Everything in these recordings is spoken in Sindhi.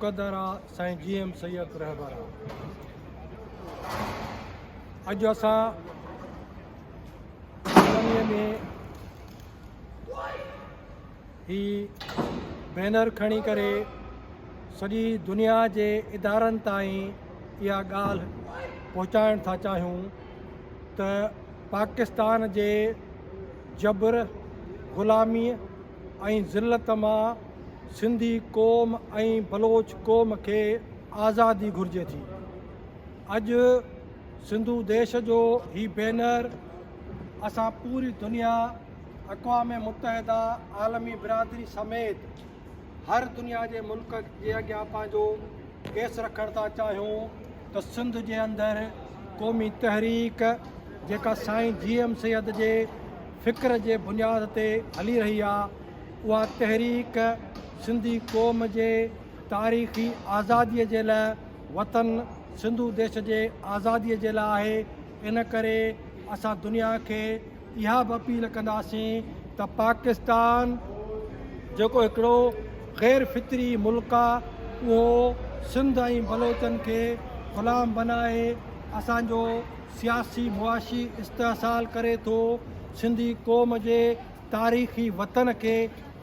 قدر آ سائين جي ايم سيد رهبر آ. اڄ اسان ڪالونيء ۾ هي بينر کڻي ڪري سڄي دنيا جي ادارن تائين اها ڳالهه پهچائڻ ٿا چاهيون ته پاڪستان جي جبر غلاميء ۽ ذلت مان سنڌي قوم ۽ بلوچ قوم کي آزادي گهرجي ٿي. اڄ سنڌو ديش جو هي بينر اسان پوري دنيا اقوام متحده عالمي برادري سميت هر دنيا جي ملڪ جي اڳيان پنهنجو ڪيس رکڻ ٿا چاهيون ته سنڌ جي اندر قومي تحريڪ جيڪا سائين جي ايم سيد جي فڪر جي بنياد تي هلي رهي آ، اها تحريڪ سنڌي قوم جي تاريخي آزادي جي لا وطن سنڌو ديش جي آزادي جي لا آهي، ان ڪري اسان دنيا کي اها به اپيل ڪنداسين ته پاڪستان، جيڪو هڪڙو غير فطري ملڪ آ، اهو سنڌ ۽ بلوچن کي غلام بنائي اسان جو. سياسي معاشي استحصال ڪري ٿو سنڌي قوم جي تاريخي وطن کي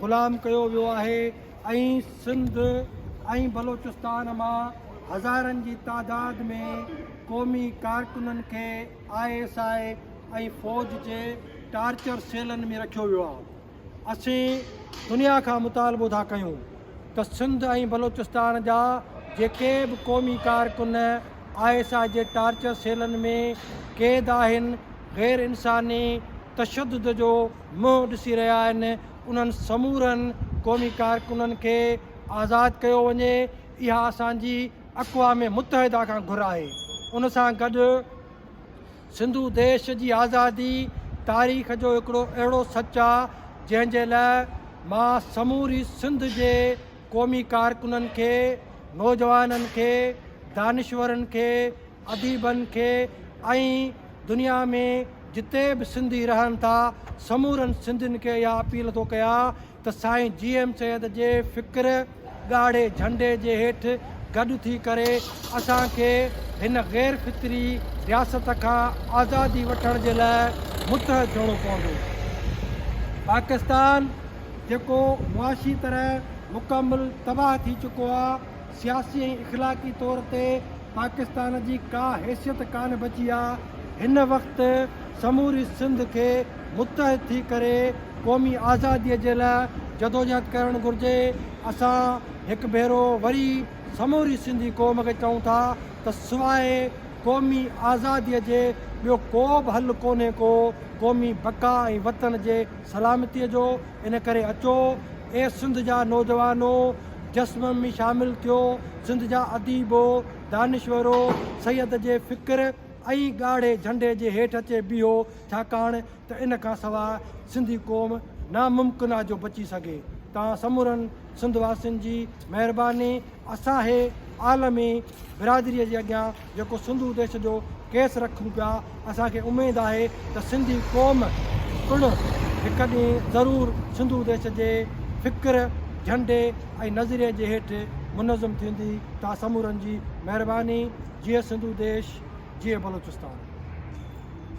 غلام ڪيو ويو آهي ۽ سنڌ ۽ بلوچستان مان هزارن جي تعداد ۾ قومي ڪارڪنن کي آء ايس آء ۽ فوج جي ٽارچر سيلن ۾ رکيو ويو آهي اسين دنيا کان مطالبو ٿا ڪيون ته سنڌ ۽ بلوچستان جا جيڪي به قومي ڪارڪن آء ايس آء جي ٽارچر سيلن ۾ قيد آهن غير انساني تشدد جو منهن ڏسي رهيا آهن انهن سمورن قومي ڪارڪنن کي آزاد ڪيو وڃي اها اسان جي اقوام متحده کان گهر آهي ان سان گڏ سنڌو ديش جي آزادي تاريخ جو هڪڙو اهڙو سچ آ جنهن جي لاء مان سموري سنڌ جي قومي ڪارڪنن کي، نوجوانن کي، دانشورن کي، اديبن کي ۽ دنيا ۾ جتي به سنڌي رهن ٿا سمورن سنڌين کي اها اپيل ٿو ڪيان ته سائين جي ايم سيد جي فڪر ڳاڙهي جهنڊي جي هيٺ گڏ ٿي ڪري اسان کي هن غير فطري رياست کان آزادي وٺڻ جي لاء متحد ٿيڻو پوندو. پاڪستان جيڪو معاشي طرح مڪمل تباهه ٿي چڪو آ، سياسي ۽ اخلاقي طور تي پاڪستان جي ڪا حيثيت ڪانه بچي آ، هن وقت سموري سنڌ کي متحد ٿي ڪري قومي آزادي جي لا جدوجهد ڪرڻ گهرجي، اسان هڪ ڀيرو وري سموري سنڌي قوم کي چئون ٿا ته سواء قومي آزادي جي ٻيو ڪو به حل ڪونهي ڪو قومي بقا ۽ وطن جي سلامتي جو. ان ڪري اچو اي سنڌ جا نوجوانو، جسم ۾ شامل ٿيو، سنڌ جا اديبو، دانشورو، سيد جي فڪر ۽ ڳاڙهي جهنڊي جي هيٺ اچي بيهو، ڇاڪاڻ ته ان کان سواء سنڌي قوم ناممڪن آ جو بچي سگهي. توهان سمورن سنڌ واسين جي مهرباني اسان هي عالمي برادري جي اڳيان جيڪو سنڌو ديش جو ڪيس رکون پيا، اسان کي اميد آهي ته سنڌي قوم پڻ هڪ ڏينهن ضرور سنڌو ديش جي فڪر، جهنڊي ۽ نظريي جي هيٺ منظم ٿيندي. توهان سمورن جي مهرباني. جيئي سنڌو ديش، جيئي بلوچستان.